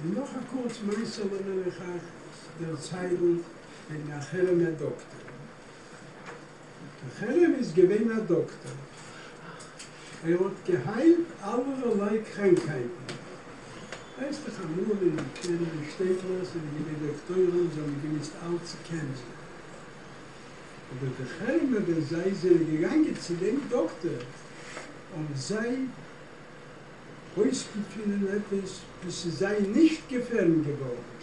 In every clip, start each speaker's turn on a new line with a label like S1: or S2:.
S1: און נאך א קורץ מעשה לאמיר איך אייך דערציילן וועגן א חרם'ער דאקטער. א חרם איז געווען א דאקטער. ער האט געהיילט אלערליי קראנקהייטן. ווייסט איך אמאל אין די קלענערע שטעטלעך זענען געווען דאקטוירים וואס האבן געמוזט אלץ צו קענזן. אבער די חרם'ער ווען זיי זענען געגאנגען צו דעם דאקטער האבן זיי אויסגעפינען עפעס וואס איז זיי נישט געפעלן געוואלד.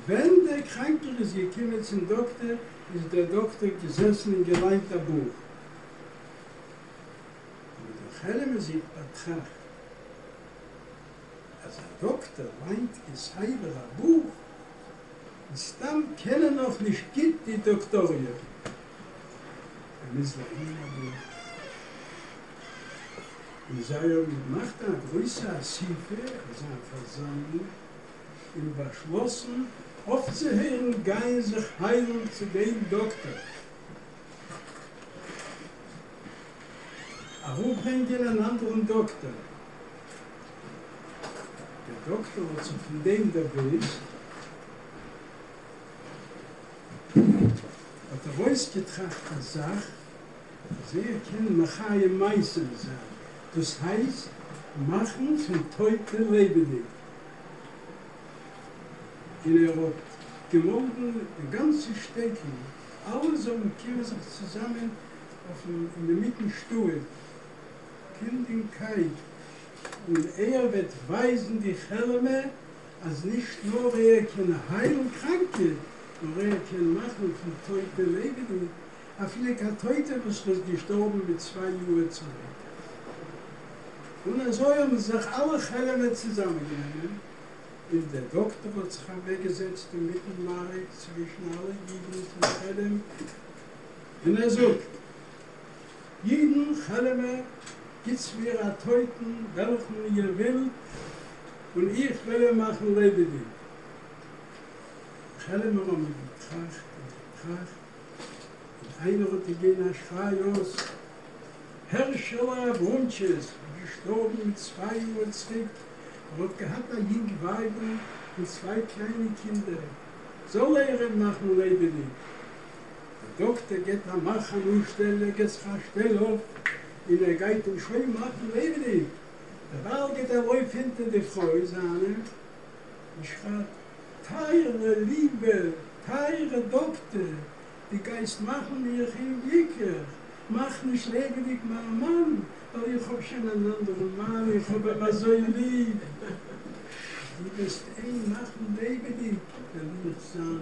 S1: ווען דער קראנקער איז געקומען צום דאקטער איז דער דאקטער געזעסן און געליינט א בוך. האבן די חלומ'ער זיך באטראכט אז א דאקטער ליינט כסדר א בוך און סתם קען ער נאכנישט גוט די דאקטאריע ער מוז לערנען א בוך, און זיי האבן געמאכט א גרויסע אסיפה, אזא פארזאמלונג, און באשלאסן אויפצוהערן גיין זיך היילן צו דעם דאקטאר, אראפברענגען אן אנדערן דאקטאר. דער דאקטאר האט זיך פון דעם דערוואוסט. האט ער אויסגעטראכט א זאך אז ער קען מחיה מתים זיין, דאס הייסט מאכן פון טויטע לעבעדיג, און ער האט געמאלדן די גאנצע שטעטל אלע זאלן קומען זיך צוזאמען אויפן אינמיטן שטועל פין דעם קייט און ער וועט ווייזן די חעלעמע. אז נישט נאר ער קען היילן קראנקע, נאר ער קען מאכן פון טויטע לעבעדיג, אפילו קיין טויטע וואס איז געשטארבן מיט צוויי יאהר צוריק. און אזוי האבן זיך אלע חעלעמער צוזאמען גענומען, און דער דאקטער האט זיך אוועקגעזעצט אינמיטן מעריב צווישן אלע אידן פון חעלעם, און ער זאגט, יעדן חלומ'ער גיטס מיר א טויטן וועלכן איר ווילט און איך וועל אים מאכן לעבעדיג. די חלומ'ער האבן געטראכט און געטראכט און איינער האט געגעבן א שריי אויס, הערשעלע אבראמטשיס איז געשטארבן מיט צוויי יאהר צוריק, ער האט געהאט א יונג ווייבל און צוויי קליינע קינדער, זאל ער אים מאכן לעבעדיג. א דאקטער געט א מאך אן אנשטעל ער געט זיך א שטעל אויף און ער גייט אים שוין מאכן לעבעדיג דערווייל גייט ער ארויף אונטער די פרוי זיינע און שרייט טייערע ליבע טייערע דאקטער די גייסט מאכן מיך אומגליקליך מאך נישט לעבעדיג מיין מאן ווייל איך האב שוין אן אנדערן מאן איך האב אים אזוי ליב די וועסט אים מאכן לעבעדיג וועל איך זיין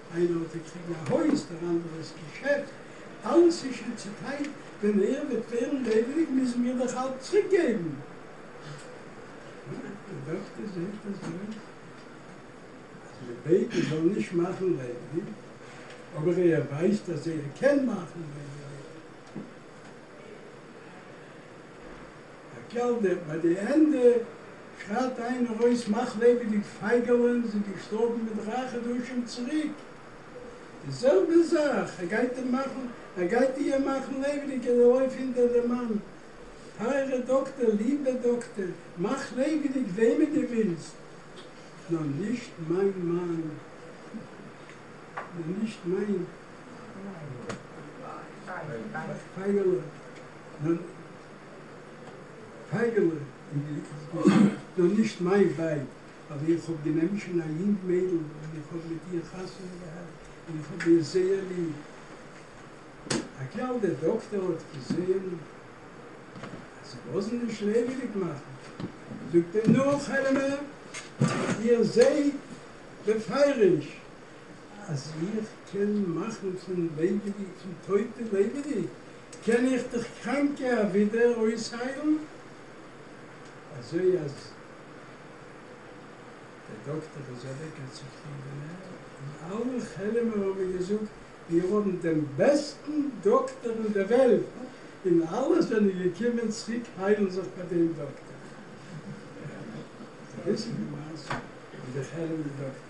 S1: איינער האט געקריגן א הויז, דער אנדערע איז געשעדט, אלעס איז שוין צוטיילט, ווען ער וועט ווערן לעבעדיג מוזן מיר דאך אלץ צוריקגעבן. די דאקטער זעהט אזוי אז מען בעט מען זאל נישט מאכן לעבעדיג, אבער ער ווייסט אז ער קען מאכן לעבעדיג. א קעלבער, ביי די ענדע שרייט איינער אויס מאך לעבעד די פייגעלען זינט געשטארבן מיט דריי חדשים צוריק, די זעלבע זאך ער גייט אים מאכן, ער גייט איהם מאכן לעבעדיג און ער לויפט הינטער די מאן, טייערע דאקטער, ליבע דאקטער, מאך לעבעדיג וועמען די ווילסט, נאר נישט מיין מאן, נאר נישט מיין פייגעלע, נאר. פייגעלע איז געזאגט נאר נישט מיין ווייב, אבער איך האב גענומען שוין א יונג מיידל און איך האב מיט איר חתונה געהאט און איך האב איר זייער ליב. אקעל דער דאקטער האט געזעהן אז זיי לאזן נישט לעבעדיג מאכן, זאגט אים נו חלומ'ער, איר זעהט בפירוש אז איך קען מאכן פון לעבעדיג פון טויטע לעבעדיג, קען איך דיך קראנקע אבידער אויסהיילן? אזוי אז דער דאקטער איז אוועק א צופרידענער, און אלע חעלעמער האבן געזאגט, מיר האבן דעם בעסטן דאקטער אין דער וועלט, און אלע זענען געקומען צוריק היילן זיך ביי דעם דאקטער. די ביסל די מעשה מיט די חעלעמער דאקטער.